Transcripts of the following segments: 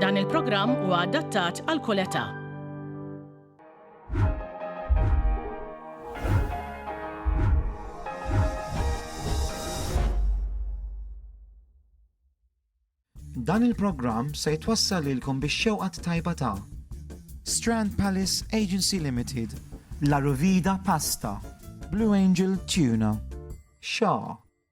Dan il-programm huwa adattat għal kull età. Dan il-programm se jitwassal lilkom biex xewqat tajba ta' Strand Palace Agency Limited, La Rovida Pasta, Blue Angel Tuna, Shaw,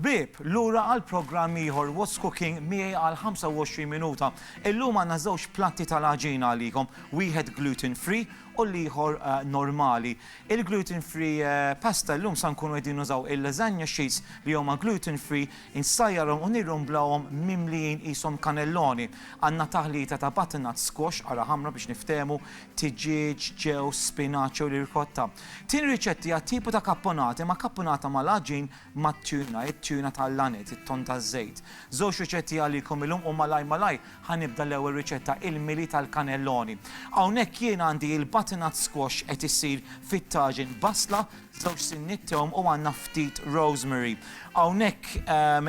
Ħbieb, lura għal programm ieħor What's Cooking miegħi għal 25 minuta. Illum għandna żewġ platti tal-għaġina għalikom, wieħed gluten free u l-ieħor normali. Il-gluten free pasta llum sa nkunu qegħdin nużaw il-lasagna sheets li huma gluten free, insajjarhom u nirrumblawhom mimlijin qishom kanelloni. Għandna taħlita ta' butternut, squash, qara ħamra biex niftehmu, tiġieġ, ġewż, spinaċ jew l-irkotta. Tieni riċetti hija tipu ta' kapponata imma kapponata mal-għaġin mat-tuna, it-tuna tal-laned, it-tonn taż-żejt. Żewġ riċetti għalikom illum u malajr malajr ħa nibda l-ewwel riċetta, il-mili tal-kanelloni. Hawnhekk jien għandi il-butternut squash qed isir fit-taġin, basla, żewġ sinniet tewm u għandna ftit rosemary. Hawnhekk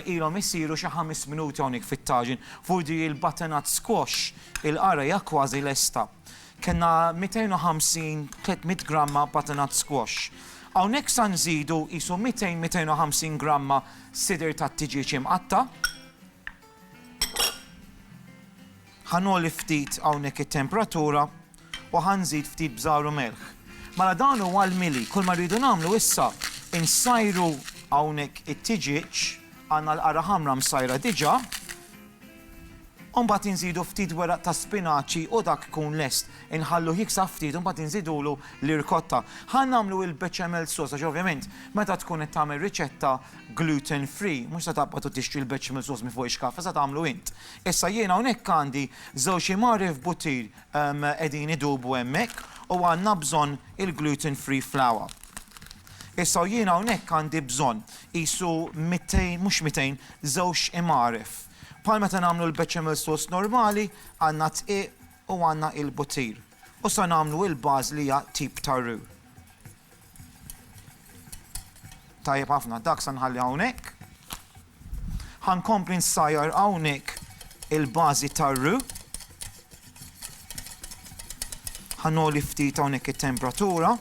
ilhom isiru xi ħames minuti hawnhekk fit-taġin. F'urdu hi l-butternut squash, il-qara hija kważi lesta. Kellna 250, 300 gramma butternut squash. Hawnhekk sa nżidu qisu 200, 250 gramma sidir tat-tiġieġ imqatta'. Ħa nogħli ftit hawnhekk it-temperatura u ħa nżid ftit bżar u melħ. Mela dan huwa l-mili. Kull ma rridu nagħmlu issa insajru hawnhekk it-tiġieġ, għandna l-qara ħamra msajra diġà. U mbagħad inżidu ftit weraq ta' spinaċi u dak ikun lest. Inħalluh jiksab ftit u mbagħad inżidulu l-irkotta. Ħa nagħmlu il-bechamel sauce għax ovvjament meta tkun qed tagħmel riċetta gluten free mhux se taqbad u tixtri l-bechamel sauce minn fuq ix-xkaffa se tagħmlu int. Issa jien hawnhekk għandi żewġ imgħarri f'buttir qegħdin idubu hemmhekk u għandna bżonn il-gluten free flour. Issa u jien hawnhekk għandi bżonn qisu 200 mhux 200 żewġ imgħaref. Bħal meta nagħmlu l-bechamel sauce normali, għandna d-dqiq u għandna il-buttir. U sa nagħmlu il-baż li hija tip ta' roux. Tajjeb ħafna, dak sa nħalli hawnhekk. Ħankompli nsajjar hawnhekk il-bażi ta' roux. Ħanoli ftit hawnhekk it-temperatura.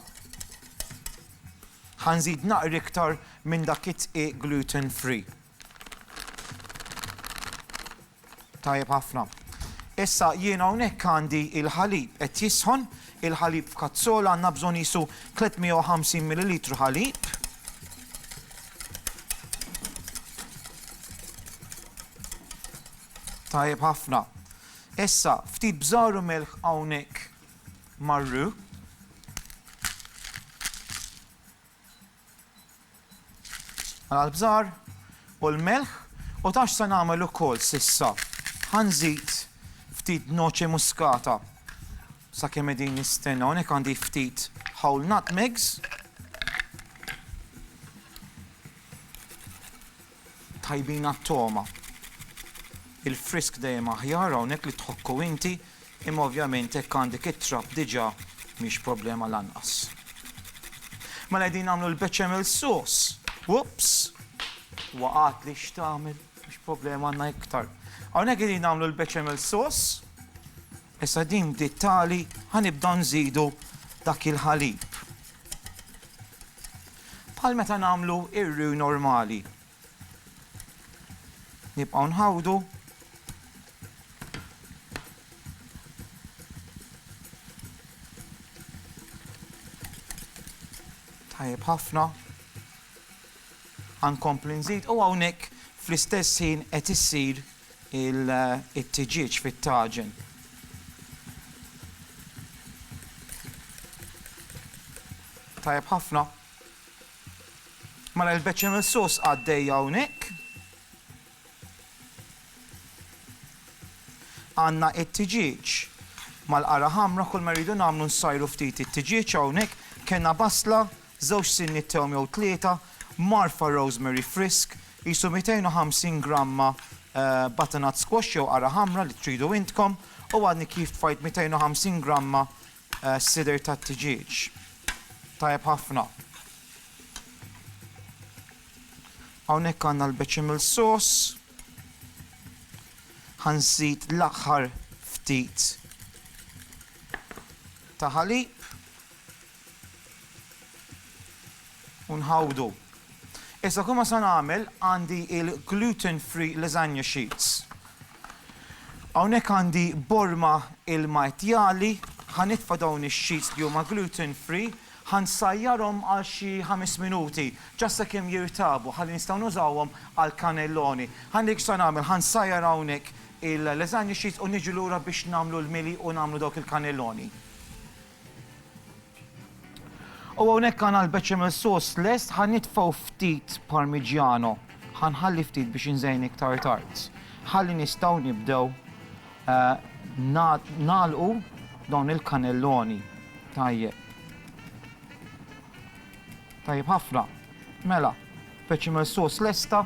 Ħanżid naqri iktar minn dak it-dqiq gluten free. Tajjeb ħafna. Issa jiena hawnhekk għandi il-ħalib qed jisħon, il-ħalib f'kazzola għandna bżonn jisu 350 ml ħalib. Tajjeb ħafna. Issa ftit bżaru melħ hawnhekk marru. Għall-bżar u l-melħ u taf x'se nagħmel ukoll s'issa, ħa nżid ftit noce muscata sakemm qegħdin nistennew, hawnhekk għandi ftit whole nutmegs. Tajbin għat-togħma. Il-frisk dejjem aħjar hawnhekk li tħokku inti, imma ovvjament jekk għandek it-trab diġà mhix problema lanqas. Mela qegħdin nagħmlu l-bechamel sauce. Whoops! Waqgħatli x'tagħmel, mhux problema għandna iktar. Hawnhekk qegħdin nagħmlu l-bechamel sauce. Issa din bdiet tagħli, ħa nibdew nżidu dak il-ħalib. Bħal meta nagħmlu r-roux normali. Nibqgħu nħawdu. Tajjeb ħafna. Għankompli nżid u hawnhekk fl-istess ħin qed issir it-tiġieġ fit-taġen. Tajjeb ħafna. Mela l-bechamel sauce għaddejja hawnhekk. Għandna t-tiġieġ mal-qara ħamra kull ma rridu nagħmlu nsajru ftit it-tiġieġ hawnhekk. Kellna basla żewġ sinjiet thewm jew tlieta, mgħarrfa rosemary frisk, qisu 250 gramma butternut squash jew qara ħamra li tridu intkom, u għadni kif tfajt 250 gramma sidr tat-tiġieġ. Tajjeb ħafna. Hawnhekk għandna l-bechamel sauce. Ħa nżid l-aħħar ftit ta' ħalib. U nħawdu. Issa kull ma se nagħmel għandi il-gluten-free lasagna sheets. Hawnhekk għandi borma ilma etjali, ħa nitfa' dawn ix-sheets li huma gluten-free, ħa nsajjarhom għal xi ħames minuti, ġast sakemm jirtabu ħalli nistgħu nużawhom għall-cannelloni. Ħa niri x'se nagħmel, ħa nsajjar hawnhekk il-lasagna sheets u niġi lura biex nagħmlu l-mili u nagħmlu dawk il-cannelloni. U hawnhekk għandna l-bechamel sauce lest ħa nitfgħu ftit parmigiano. Ħa nħalli ftit biex inżejn iktar tard. Ħalli nistgħu nibdew eh, nagħlqu dawn il-kanelloni. Tajjeb. Tajjeb ħafna. Mela, Bechamel sauce lesta.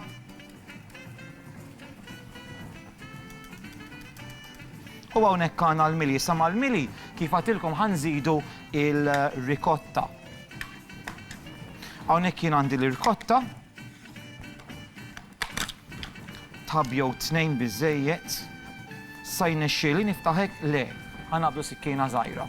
U hawnhekk għandna l-mili, sa mal-mili kif għatilkom ħanżidu il-rikotta. Hawnhekk jien għandi l-rikotta. Tab jew tnejn biżejjed. Sa jnexxieli niftaħek le. Ħanabdu sikkina żgħira.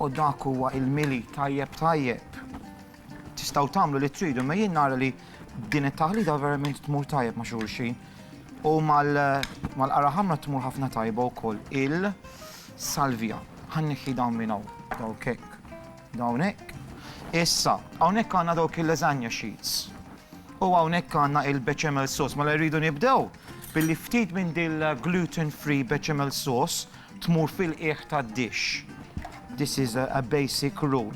U dak huwa il-mili tajjeb tajjeb. Tistgħu tagħmlu li tridu, ma jien nara li din it-taħlita verament tmur tajjeb ma' xulxin. U mal-qara ħamra tmur ħafna tajba wkoll il-salvija. Ħanniħħi dawn minn hawn, dawk hekk. Hawnhekk. Issa, hawnhekk għandna dawk il-lasagna sheets. U hawnhekk għandna il-bechamel sauce. Mela rridu nibdew billi ftit minn din gluten free bechamel sauce tmur fil-qiegħ tad-dish. This is a, a basic rule.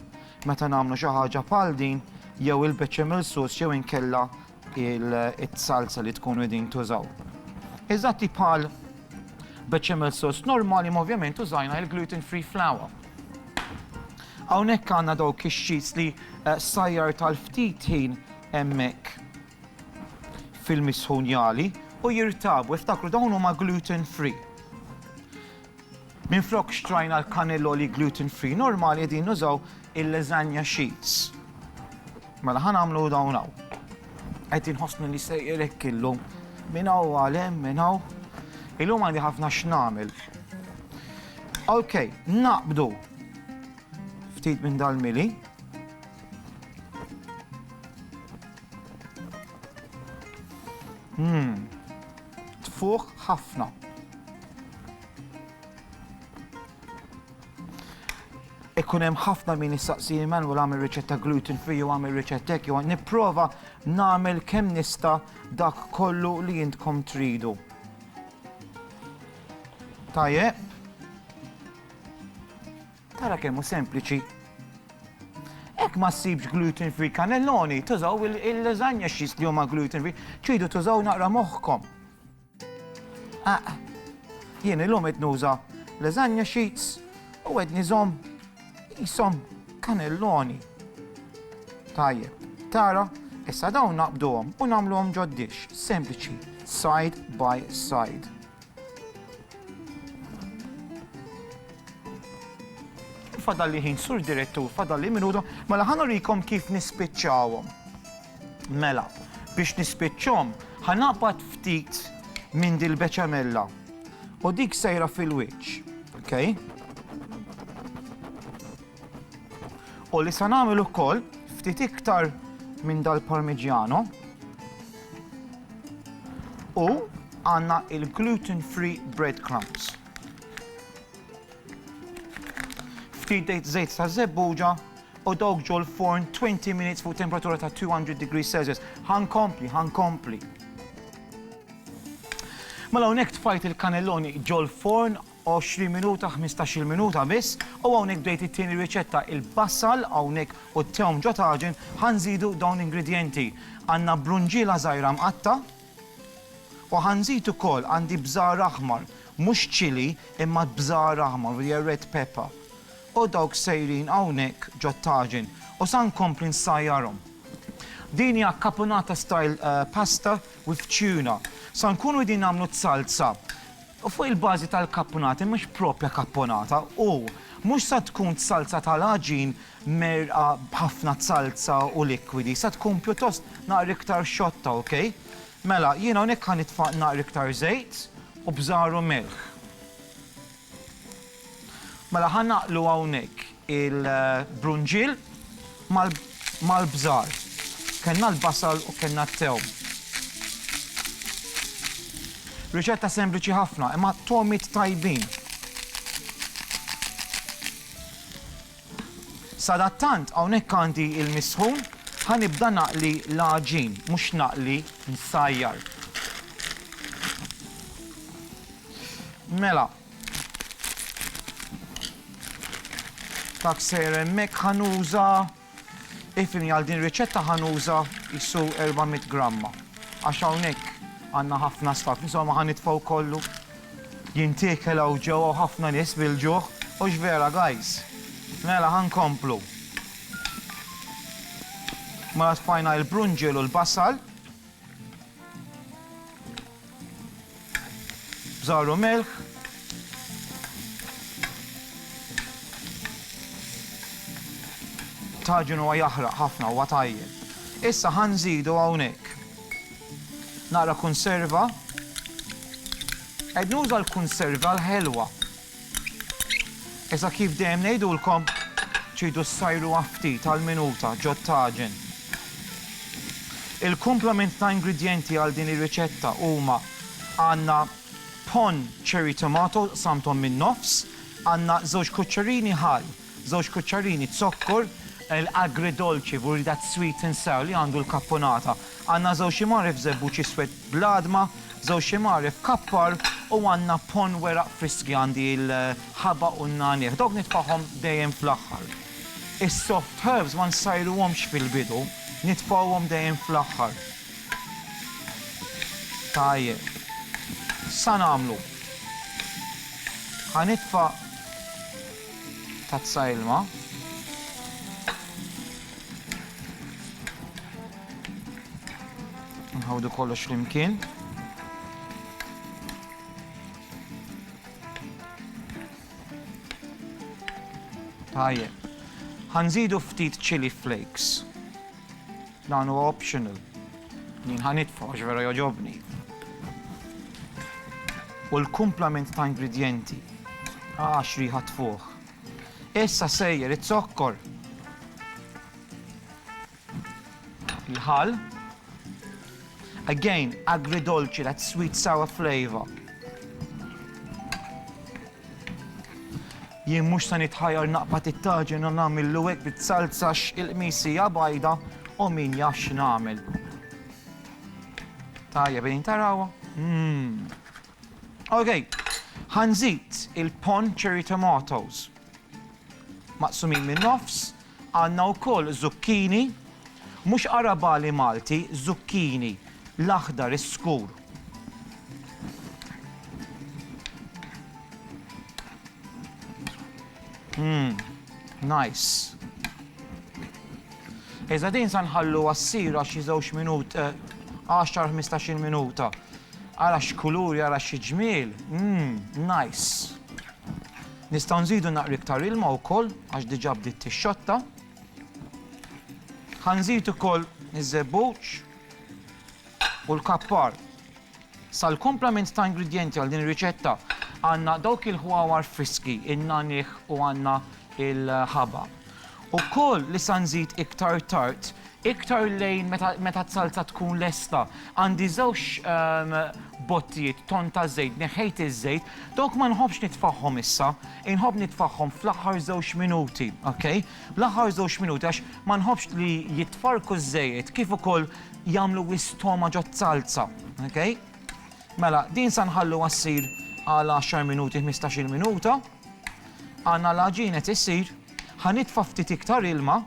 Meta nagħmlu xi ħaġa bħal din, jew il-bechamel sauce jew inkella il-salsa li tkunu qegħdin tużaw. Eżatti bħal bechamel sauce normali ma ovvjament użajna il-gluten free flour. Hawnhekk għandna dawk ix-xis li eh, sajjar tal-ftit ħin hemmhekk fil-misħunjali u jirtabu, iftakru dawn huma gluten free. Minflok xtrajna l-cannelloli gluten free normali qegħdin nużaw il-lasagna sheets. Mela ħa nagħmlu dawn hawn. Qed inħossni li sejjer hekk illum. Minn hawn għal hemm minn hawn. Illum għandi ħafna x'nagħmel. Ok, naqbdu ftit minn dal-mili. Mmm, tfuħ ħafna. Ikkun hemm ħafna min jistaqsi man u għamil riċetta gluten free u għamil riċetta hekk jew nipprova nagħmel kemm nista' dak kollu li jintkom tridu. Tajje. Tara kemm hu sempliċi. Hekk ma ssibx gluten free kanelloni, tużaw il-lasagna xis li huma gluten free, ċidu tużaw naqra moħħkom. Jien illum qed nuża lasagna sheets u qed niżhom qishom kanelloni. Tajjeb, tara, issa dawn naqbduhom u nagħmluhom ġod-dish, sempliċi, side by side. Fadalli ħin, Sur Direttur, fadalli minuta, mela ħa nurikom kif nispiċċawhom. Mela, biex nispiċċhom, ħa naqbad ftit minn dil-beċamella u dik sejra fil-wiċċ, ok? U li sa nagħmel ukoll ftit iktar minn dal-parmigiano u għandna il-gluten-free breadcrumbs. Ftit żejt ta' żebbuġa u dawk ġol-forn 20 minutes fuq temperatura ta' 200 degrees Celsius. Ħa nkompli, ħa nkompli. Mela hawnhekk tfajt il-kanelloni ġol-forn 20 minuta, 15-il minuta biss, u hawnhekk bdejt it-tieni riċetta il-basal hawnhekk u t-tewm ġo taġen ħa nżidu dawn l-ingredjenti. Għandna brunġiela żgħira mqatta', U ħa nżid ukoll, għandi bżar aħmar, mhux chili, imma bżar aħmar, u hija red pepper. U dawk sejrin hawnhekk ġot-taġin, u sa nkompli nsajjarhom. Din hija caponata style pasta with tuna. Sa nkunu qegħdin nagħmlu s-salsa, U fuq il-bażi tal-kappunati mhux proprja kapponata u mhux sa tkun t-salza tal-għaġin mgħerqa b'ħafna t-salza u likwidi, sa tkun pjuttost naqra iktar xotta, ok? Mela, jiena hawnhekk ħa nitfa' naqra iktar żejt u bżar u milħ. Mela ħa naqlu hawnhekk il-brunġiel mal-bżar. Kellna l-basal u kellna t-tewm. Riċetta sempliċi ħafna, imma togħmiet tajbin. Sadattant hawnhekk għandi l-misħun, ħa nibda naqli l-għaġin, mhux naqli, nsajjar. Mela. Dak sejjer hemmhekk ħa nuża, ifhimni għal din ir-riċetta ħa nuża qisu 400 gramma għax hawnhekk għandna ħafna staff, insomma ħa nitfgħu kollu jintiekel hawn ġewwa hawn ħafna nies bil-ġuħ, hux vera guys? Mela ħa nkomplu. Mela tfajna l-brunġiel u l-basal. Bżar u milħ. Taġin huwa jaħraq ħafna huwa tajjeb. Issa ħanżidu hawnhekk. Naqra konserva. Qed nuża l-konserva l-ħelwa. Iżda kif dejjem ngħidulkom, tridu ssajruha ftit għall-minuta ġot-taġen. Il-kumplament ta' ingredjenti għal din ir-riċetta huma, għandna ponn cherry tomato qsamthom min-nofs, għandna żewġ kuċċerini ħall, Żewġ kuċċarini zokkor, l-agridolci u that sweet and sour li għandu l-kappunata. Għandna żewġ ximgħaref żebbuġ iswed bl-għadma, żewġ ximgħaref kappar u għandna ponn weraq friski għandi l-ħabaq u n-nagħniegħ. Dawk nitfagħhom dejjem fl-aħħar. Is-soft herbs ma nsajruhomx fil-bidu, nitfgħuhom dejjem fl-aħħar. Tajjeb. X'sa nagħmlu? Ħa nitfa' Tazza ilma. Nħawdu kollox flimkien. Tajjeb. Ħanżidu ftit chili flakes. Dan huwa optional. Jien ħa nitfa' għax vera jogħġobni. U l-kumplament ta' ingredjenti. Ah, x'riħa tfuħ. Issa sejjer iz-zokkor. Il-ħal. Again, agridolci, that sweet sour flavor. Jien mhux se nitħajjar naqbad it-taġen u nagħmillu hekk bit-salz għax il-qmis hija bajda u min jaf x'nagħmel. Tajjeb qegħdin tarawha? Mmm. Okay, ħanżid il-pon cherry tomatoes maqsumin minn nofs, Għandna wkoll zucchini, mhux arabali Malti, zucchini, l-aħdar, is-skur. Mmm, nice. Iżda din sa nħalluha ssir għax xi żewġ minut, 10-15 eh, minuta. Ara x'kulur, ara xi ġmiel. Mmm, nice. Nistgħu nżidu naqra iktar ilma wkoll għax diġà bdiet tixxotta. Ħa nżid ukoll iż-żebbuġ u l-kappar. Sal-kumplament ta' ingredjenti għal din ir-riċetta għandna dawk il-ħwawar friski, in-nagħniegħ u għandna l-ħaba. Ukoll li sa nżid iktar tard, iktar lejn meta meta t-salza tkun lesta. Għandi żewġ bottijiet tonn ta' żejt, neħħejt iż-żejt, dawk ma nħobbx nitfagħhom issa, inħobb nitfagħhom fl-aħħar żewġ minuti, ok? L-aħħar żewġ minuti għax ma nħobbx li jitfarrku ż-żejjed kif ukoll jagħmlu wisq togħma ġoz-zalza, ok? Mela, din sa nħalluha ssir għal għaxar minuti, ħmistax-il minuta. Għandna l-għaġin qed isir, ħa nitfa' ftit iktar ilma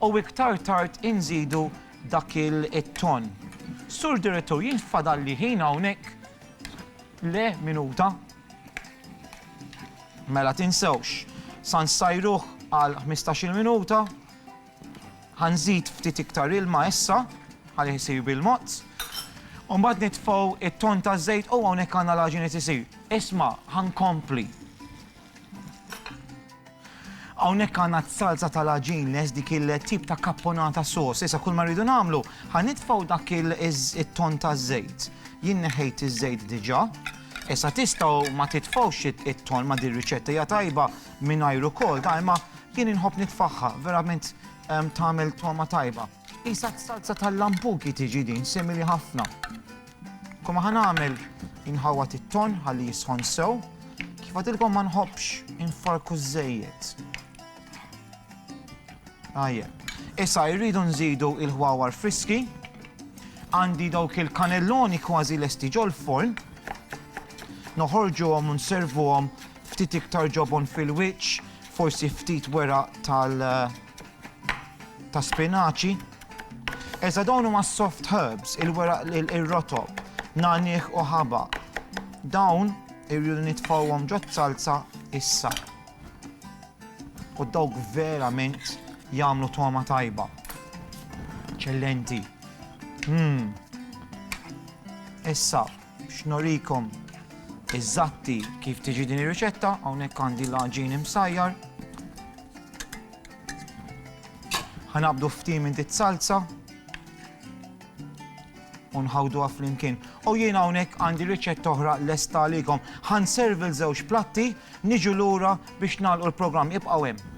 u iktar tard inżidu dak it-tonn. Sur Direttur, jien fadalli ħin hawnhekk? Le, minuta. Mela tinsewx, sa nsajruh għal ħmistax-il minuta. Ħa nżid ftit iktar ilma issa ħalli jsir bil-mod. U mbagħad nitfgħu t-ton taż-żejt u hawnhekk għandna l-għaġina tisir. Isma' ħa nkompli. Hawnhekk għandna t-salza tal-għaġin les dik il-tip ta' kapponata sos. Issa kull ma rridu nagħmlu ħa nitfgħu dak it-ton taż-żejt. Jien neħejt iż-żejt diġà. Issa tistgħu ma titfgħux it-ton ma' din riċetta hija tajba Mingħajr ukoll dgħajma jien inħobb nitfagħha, verament tagħmel togħma tajba. Qisha s-salza tal-lampuki tiġi din, simili ħafna. Kum aħna nagħmel inħawwad it-ton ħalli jisħon sew, kif għadilkom ma nħobbx infarku żejjed. Ajje. Issa jridu nżidu il-ħwawar friski, għandi dawk il-kanelloni kważi lesti ġol-forn, noħorġu għom un servu għom Ftit iktar ġobon fil-wiċċ, forsi ftit weraq tal ta' spinaċi. Eża dawn huma soft herbs, il-weraq ir-rotob, nagħnieh u ħaba. Dawn irridu nitfawhom ġod salza issa. U dawk verament jagħmlu togħma tajba. Ċellenti. Hmm. Issa, Biex nurikom iżatti kif tiġi din ir-riċetta, hawnhekk għandi l-għaġin imsajjar. Ħanabdu ftim inti salza u nħawdu flimkien. U jien hawnhekk għandi riċetta oħra lesta għalikom. Ħan servi l-żewġ platti, niġu lura biex nagħlqu l-programm ibqgħu hemm.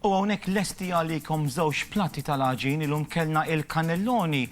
U hawnhekk lesti għalikom żewġ platti tal-għaġin, illum kellna il-kannelloni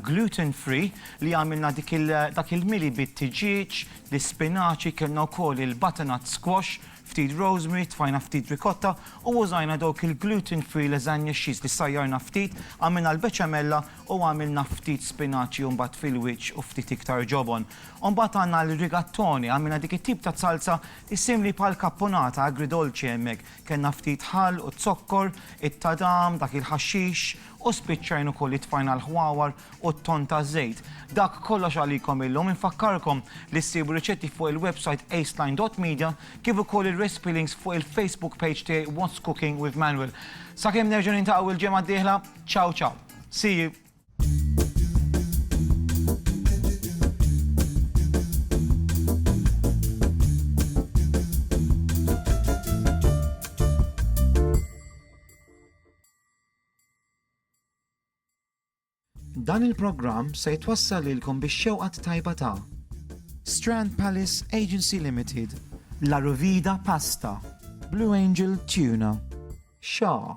gluten free li għamilna dak il-mili bit-tiġieġ, l-ispinaċi, kellna wkoll il-butternut squash, ftit rosemary, tfajna ftit ricotta u użajna dawk il-gluten free lasagna cheese li sajjarna ftit, għamilna l-beċamella u għamilna ftit spinaċi u mbagħad fil-wiċċ u ftit iktar ġobon. U mbagħad għandna l-rigatoni, għamilna dik it-tip ta' salsa Issimli bħal kapponata agridolce hemmhekk kellna ftit ħall u zokkor, it-tadam, dak il-ħaxxix, u spiċċajn ukoll li tfajna l-ħwawar u t-tonn taż-żejt. Dak kollox għalikom illum. Infakkarkom li ssibu riċetti fuq il-websajt aceline dot media kif ukoll ir-recipe links fuq il-Facebook page tiegħi What's Cooking with Manuel. Sakemm nerġgħu niltaqgħu l-ġimgħa d-dieħla, ciao ciao. See you! Dan il-programm se jitwassal lilkom bix-xewqa t-tajba ta' Strand Palace Agency Limited, La Ruvida Pasta, Blue Angel Tuna, Shaw,